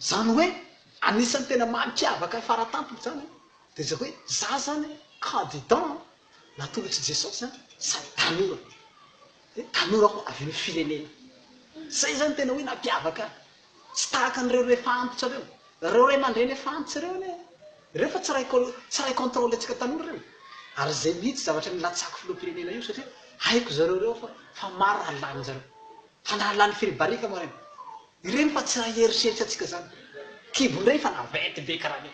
Izany hoe anisan'ny tena mampiavaka fara-tampony izany dia izay hoe za izany candidat natolotr'i Jesosy sady tanora, dia tanora koa avy amin'ny firenena. Izay izany tena hoe nampiavaka ahy. Tsy tahaka an'ireo ray efa antitra ireo. Ireo ray aman-dreny efa antitra ireo anie, ireo efa tsy ray tsy ray contrôle-ntsika tanora ireo. Ary izay mihitsy zavatra nilatsako filoham-pirenena io satria haiko zareo ireo fa fa maro raha lanin'izareo. Fa na lany firibarika moa ireny. Ireny fa tsy raha eritreritra tsika zany kibo ndray fa naventy be karaha le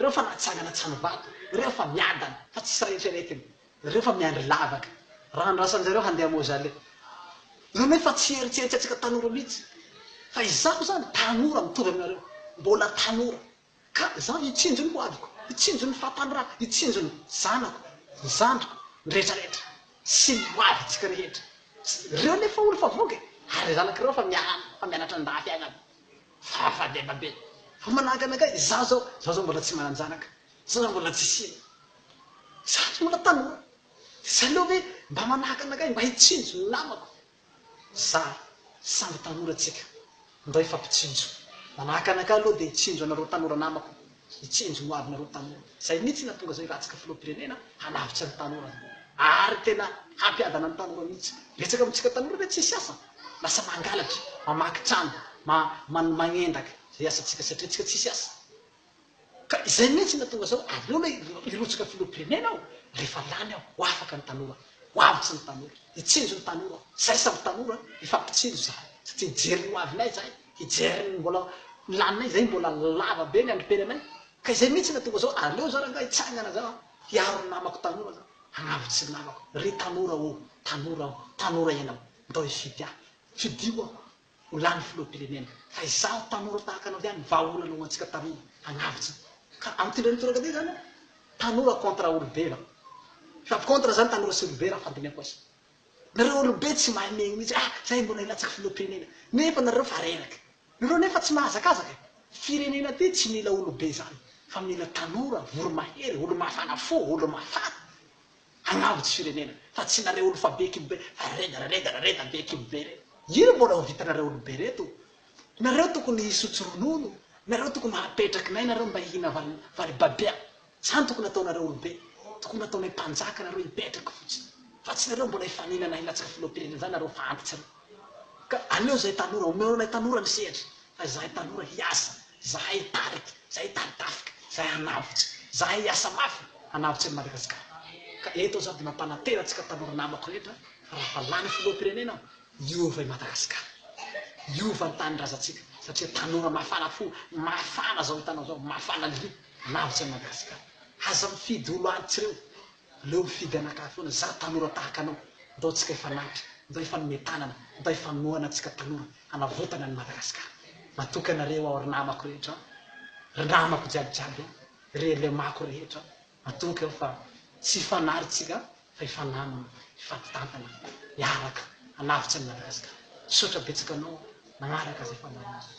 reo fa natsangana tsy any vato reo fa miadana fa tsisy raha eritreretiny reo fa miandry lavaka raha andrasan jareo handeha mozale reo nefa tsy eritreritra tsika tanora mitsy fa izaho zany tanora mitovy aminareo mbola tanora Ka izaho hitsinjo ny hoaviko, hitsinjo ny fampanoravako, hitsinjo ny zanako, ny zandriko, ny rehetra rehetra, sy ny hoavintsika rehetra. Ireo anefa hono fa voky, ary ny zanako ireo fa miala, fa mianatra an-dahafiainana. Fahafahabebabe. Fa manahaka anakay, izaho izao, izaho izao mbola tsy manan-janaka, izaho izao mbola tsy sina. Izaho tsy mbola tanora. Dia tsy aleo ve mba manahaka anakay, mba hitsinjo ny namako, zary samby tanora tsika ndray fa mpitsinjo manahaka anakay aloha dia hitsinjo anareo tanora namako hitsinjo ny hoavinareo tanora zay mitsy na tonga zao hiratsaka filohampirenena hanavotra ny tanora ary tena hampiadana ny tanora mitsy betsaka amitsika tanora ve tsisy asa lasa mangalatra mamaky trano ma magnendaka zay asatsika satria tsika tsisy asa Ka izay mihitsy no hahatonga zao, aleo aloha hirotsaka filoham-pirenena aho, rehefa lany aho, ho afaka ny tanora, ho avotry ny tanora, hitsinjo ny tanora aho, izahay samy tanora, hifampitsinjo izahay, satria hijery ny ho avinay izahay, hijery ny mbola ny laninay izahay mbola lava be ny androm-piaina anay, ka izay mihitsy no hahatonga zao, aleo zao rangahy hitsangana zao aho, hiaro ny namako tanora zao, hanavotsy ny namako, ry tanora ô, tanora ô, tanora ianao, ndao hifidy ahy, fidio aho, Ho lany filoham-pirenena. Fa izaho tanora tahaka anao ihany vahaolana ho antsika tanora hanavotra. Ka amin'ny tendreny tondrakabe izany aho. Tanora contre olobe raho. Sady contre izany tanora sy olobe raha fandinihako azy. Nareo olobe tsy mahay mihaino mihitsy ah zay mbola hilatsaka filoham-pirenena. Nefa nareo fa reraka. Nareo nefa tsy mahazakazaka e. Firenena ty tsy mila olobe izany fa mila tanora, voromahery, olo-mafana fo, olo-mafana. Hanamby tsy firenena fa tsy nareo olo fa be kibo be fa reda ra reda ra reda be kibo be re ino mbola ho vitanareo olo be reto nareo tokony hisotro ronono nareo tokony hapetraky nay nareo mba hihina vali vali babia zany tokony ataonareo olo be tokony ataonay mpanjaka nareo hipetraky fotsiny fa tsy nareo mbola hifaninana hilatsaka filohampirenena zany nareo fa antitra re ka aleo zay tanora omeo anay tanora ny sehatra Fa izahay taloha hiasa, izahay hitarika, izahay hitady tafika, izahay hanavotra, izahay hiasa mafy hanavotra an'i Madagasikara. Ka eto aho izao dia mampanantena antsika tanora namako rehetra raha efa lany filoham-pirenena aho, hiova i Madagasikara. Hiova ny tanindrazantsika satria tanora mafana fo, mafana izao hitanao izao, mafana lio hanavotra an'i Madagasikara. Aza mifidy olo antsy ireo. Aleo mifidy anakahy foana za tanora tahaka anao ndao tsika hifanaritra ndao hifanome tanana ndao hifanohana atsika tanora hanavotana ny Madagascar matoky anareo aho ry namako rehetra an ry namako jiaby jiaby an ry elemako rehetra matoky aho fa tsy hifanary tsika fa hifanamana hifampitantana hiaraka hanavotra ny Madagascar misaotra betsaka anao nagnaraka zay fandaharana zay.